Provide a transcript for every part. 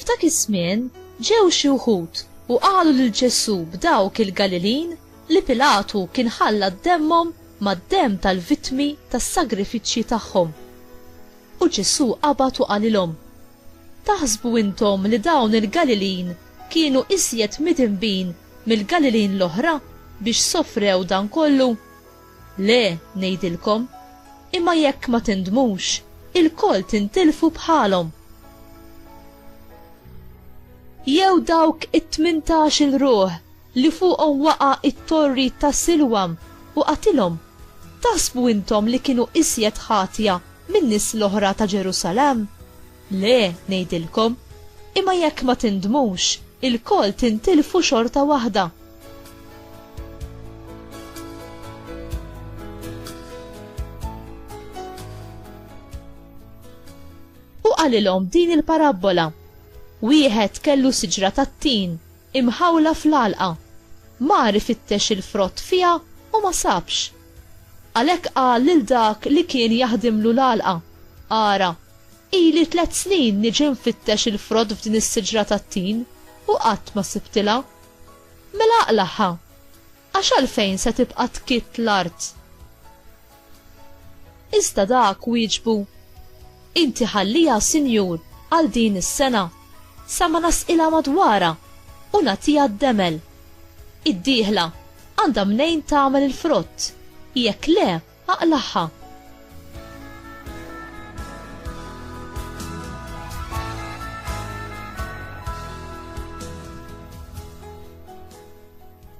F'dak iż-żmien ġew xi wħud u qalu lil Ġesù b'dawk il-Galilin li Pilatu kien ħalla d-demmhom mad-demm tal-vittmi tas-sagrifiċċji tagħhom. U Ġesù qabad u qalilhom, Taħsbu intom li dawn il-Galilin kienu iżjed midinbin mill-Galilin l-oħra biex sofrew dan kollu? Le, ngħidilkom, imma jekk ma tindmux, ilkoll tintilfu bħalhom. Jew dawk it-tmintax-il ruħ li fuqhom waqa' t-torri ta' Silwam, u qatilhom, taħsbu intom li kienu iżjed ħatja min-nies l-oħra ta' Ġerusalemm? Le, ngħidilkom, imma jekk ma tindmux, ilkoll tintilfu xorta waħda. U qalilhom din il-parabbola, Wieħed kellu siġra tat-tin, Imħawla fl-għalqa. Mar ifittex il-frott fiha u ma sabx. Għalhekk qal lil dak li kien jaħdimlu l-għalqa, Ara, ili tliet snin niġi nfittex il-frott f'din is-siġra tat-tin u qatt ma sibtilha. Mela aqlagħha! Għax għalfejn se tibqa' tkitt l-art? Iżda dak wieġbu, Inti ħalliha, Sinjur, għal din is-sena, sa ma nasqilha madwarha u nagħtiha d-demel. Id-dieħla għandha mnejn tagħmel il-frott, jekk le, Aqlagħha!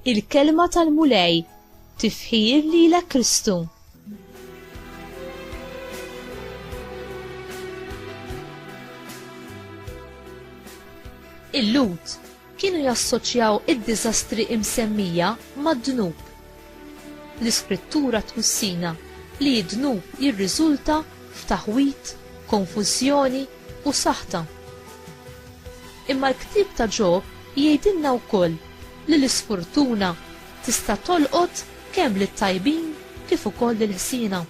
Il-kelma tal-Mulej tifħir lilek Kristu. Il-lut Kienu jassoċjaw id-diżastri imsemmija mad-dnub. L-Iskrittura twissina li d-dnub jirriżulta f'taħwid, konfużjoni, u saħta. Imma l-ktieb ta' Ġob jgħidilna wkoll li l-isfurtuna tista' tolqot kemm lit-tajbin kif ukoll lill-ħsiena.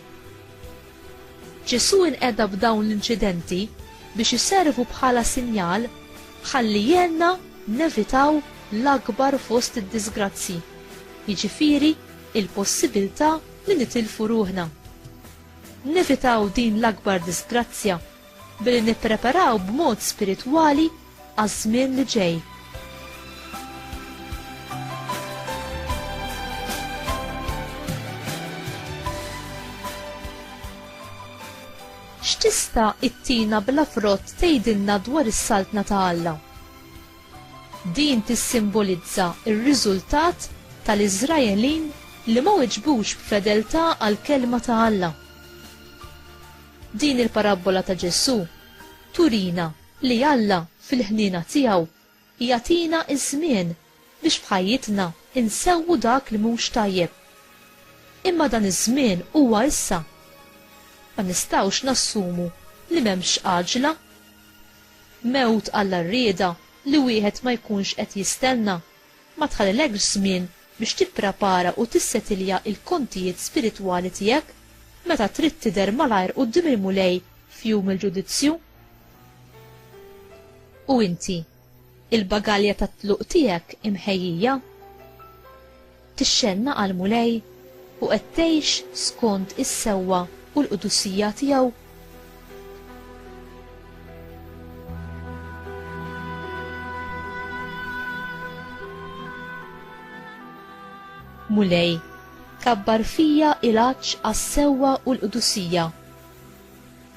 Ġesù inqeda b'dawn l-inċidenti biex iservu bħala sinjal ħalli jgħinna nevitaw l-akbar fost id-diżgrazzji, jiġifieri l-possibilità li nitilfu ruħna. Nevitaw din l-akbar diżgrazzja billi nippreparaw b'mod spiritwali għaż-żmien li ġej. X'tista' ittina bla frott tgħidilna dwar is-saltna ta' Alla? Din tissimbolizza r-riżultat tal-Iżraelin li ma weġbux b'fedeltà għall-kelma ta' Alla. Din il-parabbola ta' Ġesù turina Li Alla, fil-ħniena tiegħu, jagħtina ż-żmien biex f'ħajjitna nsewwu dak li mhux tajjeb. Imma dan iż-żmien huwa issa. Ma nistgħux nassumu li m'hemmx għaġla. Mewt għall-għarrieda li wieħed ma jkunx qed jistenna Ma tħallilekx żmien biex tipprepara u tissetilja l-kontijiet spiritwali tiegħek meta trid tidher malajr quddiem il-Mulej f'Jum il-Ġudizzju. U inti, il-bagalja tat-tluq tiegħek imħejjija? Tixxennaq għall-Mulej u qed tgħix skond is-sewwa u l-qdusija tiegħu? Mulej, kabbar fija il-għaċ għas-sewwa u l-qdusija.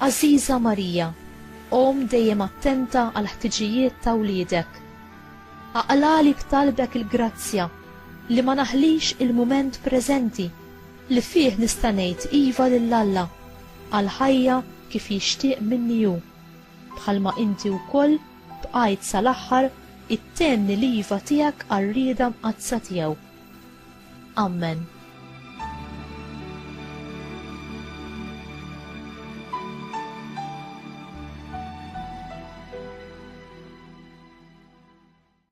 Aziza Marija, om dejjem attenta għal ħtiġijiet ta' wliedek. Aqlali b'talbek il-grazzja li ma naħlix il-mument preżenti Li fih nista' ngħid iva lil Alla għal ħajja kif jixtieq minni hu, bħalma inti wkoll bqajt sal-aħħar ittenni l-iva tiegħek għar-rieda mqaddsa tiegħu. Ammen.